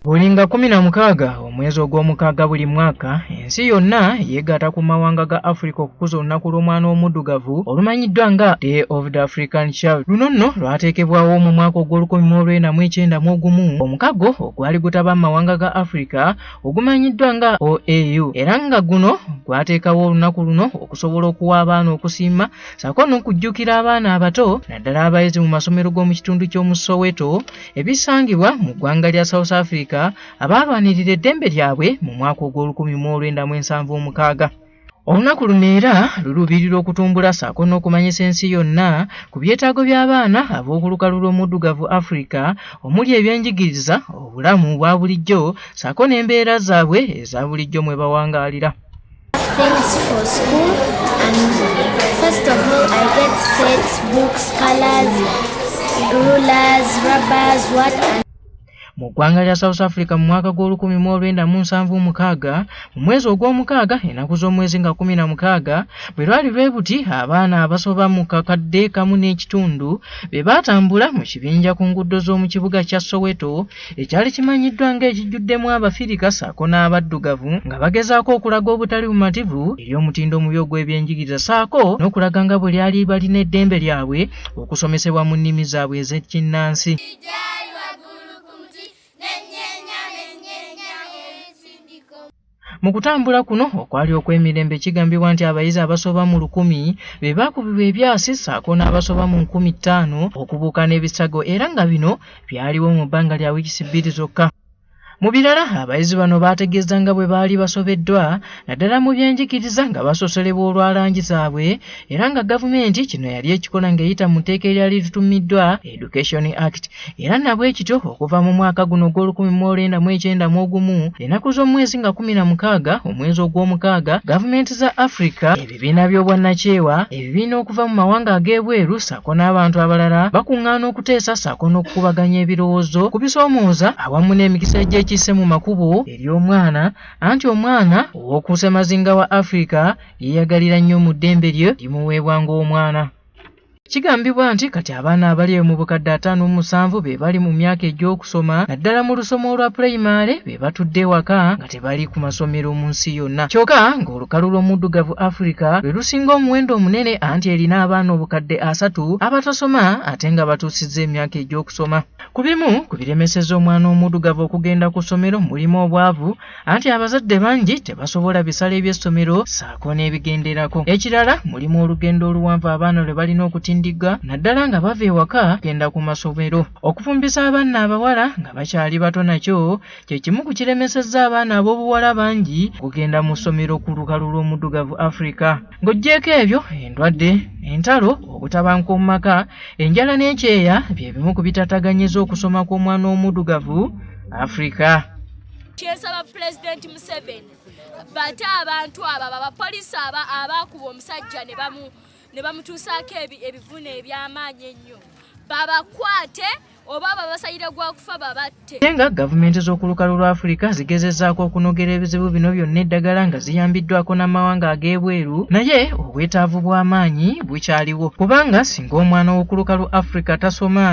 buli nga kumi na mukaaga omwezi ogw'omukaaga buli mwaka ensi yonna yeegaata ku mawanga ga africa okukuza olunaku lw'omwana omuddugavu olumanyiddwa nga day of the african child luno nno lwateekebwawo mu mwaka ogw'olukumi mu olw'ena mu ekyenda mu ogumu omukago ogwali gutaba mu mawanga ga africa ogumanyiddwa nga oau era nga guno gwateekawo olunaku luno okusobola okuwa abaana okusiima saako n'okujjukira abaana abato naddala abayizi mu masomero g'omu kitundu ky'omu soweto ebisangibwa mu ggwanga lya south africa abaalwanirira eddembe lyabwe mu mwaka ogw'olukumi mu olwenda mu ensanvu omukaaga olunaku luno era luluubirira okutumbula saako n'okumanyisa ensi yonna ku byetaago by'abaana ab'okulukalu lw'omuddugavu africa omuli ebyenjigiriza obulamu obwa bulijjo saako n'embeera zaabwe eza bulijjo mwe bawangaalira Thanks for school and first of all I get sets, books, colors, rulers, rubbers, what and mu ggwanga lya south africa mu mwaka gw'olukumi mu olwenda mu nsanvu mukaaga mu mwezi ogw'omukaaga ennaku z'omwezi nga kumi na mukaaga bwe lwali lwe buti abaana abasoba mu kakadde kamu n'ekitundu be baatambula mu kibinja ku nguudo z'omu kibuga kya soweto ekyali kimanyiddwa ng'ekijjuddemu abafirika saako n'abaddugavu nga bagezaako okulaga obutali bumativu eri omutindo omubi ogw'ebyenjigiriza saako n'okulaga nga bwe lyali balina eddembe lyabwe okusomesebwa mu nnimi zaabwe ez'ekinnansi Mu kutambula kuno okwali okw'emirembe kigambibwa nti abayizi abasoba mu lukumi be baakubibwa ebyasi ssaako n'abasoba mu nkumi ttaano okubuuka n'ebisago era nga bino byaliwo mu bbanga lya wiikisi bbiri zokka. Mu birala abayizi bano baategeeza nga bwe baali basobeddwa naddala mu byenjigiriza nga basosolebwa olwa langi zaabwe era nga gavumenti kino yali ekikola ng'eyita mu tteeka eryali litumiddwa Education Act era nabwe kityo okuva mu mwaka guno ogw'olukumi mu olwenda mu ekyenda mu ogumu ennaku z'omwezi nga kumi na mukaaga omwezi ogw'omukaaga gavumenti za Afrika ebibiina by'obwannakyewa ebibiina okuva mu mawanga ag'ebweru ssaako n'abantu abalala bakuŋŋaana okuteesa ssaako n'okukubaganya ebirowoozo ku bisoomooza awamu n'emikisa egy'ekisse mu makubo eri omwana anti omwana ow'oku ssemazinga wa Afrika yeeyagalira nnyo mu ddembe lye limuweebwa ng'omwana kigambibwa nti kati abaana abali mu bukadde ataano mu musanvu be bali mu myaka egy'okusoma naddala mu lusoma olwa pulayimale be batudde ewaka nga tebali ku masomero mu nsi yonna kyokka ng'olukalu lw'omuddugavu afirika lwe lusinga omuwendo omunene anti erina abaana obukadde asatu abatasoma ate nga batuusizza emyaka egy'okusoma ku bimu ku biremeseza omwana omuddugavu okugenda ku ssomero mulimu obwavu anti abazadde bangi tebasobola bisala eby'essomero saako n'ebigenderako ekirala mulimu olugendo oluwanvu abaana lwe balina okutindigga naddala nga bava ewaka genda ku masomero okufumbisa abaana abawala nga bakyali bato nakyo kye kimu ku kiremesezza abaana ab'obuwala bangi okugenda mu ssomero ku lukalu lw'omuddugavu afrika ng'oggyeeko ebyo endwadde entalo obutabanka omu maka enjala n'ekyeya bye bimu ku bitataganyiza okusoma kw'omwana omudugavu afrika kyensaba pulezidenti museveni bate abantu abo abapolisi aba abaakuba omusajja ne bamutuusaako ebivuna eby'amaanyi ennyo babakwate oba babasalira gwa kufa babatte naye nga gavumenti z'okulukalu lwa afirika zigezezaako okunogera ebizibu bino byonna eddagala nga ziyambiddwako n'amawanga ag'ebweru naye obwetaavu bw'amaanyi bukyaliwo kubanga singa omwana w'okulukalu afirika tasoma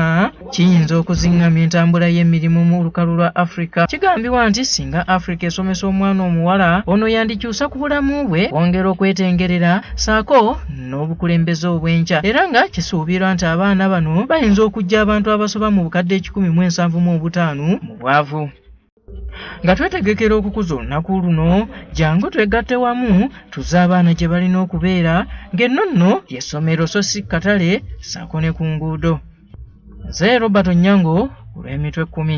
kiyinza okuziŋŋamya entambula y'emirimu mu lukalu lwa afirika kigambibwa nti singa afirika esomesa omwana omuwala ono yandikyusa ku bulamu bwe kwongera okwetengerera saako n'obukulembeze obw'enkya era nga kisuubirwa nti abaana bano bayinza okujja abantu abasoba mu bukadde ekikumi mu ensanvu mu obutaano mu bwavu nga twetegekera okukuza olunaku luno jangu twegatte wamu tuze abaana gye balina okubeera ng'enno nno yessomero so si katale saako ne ku nguudo nze robert onyango olw'emitwe ekkumi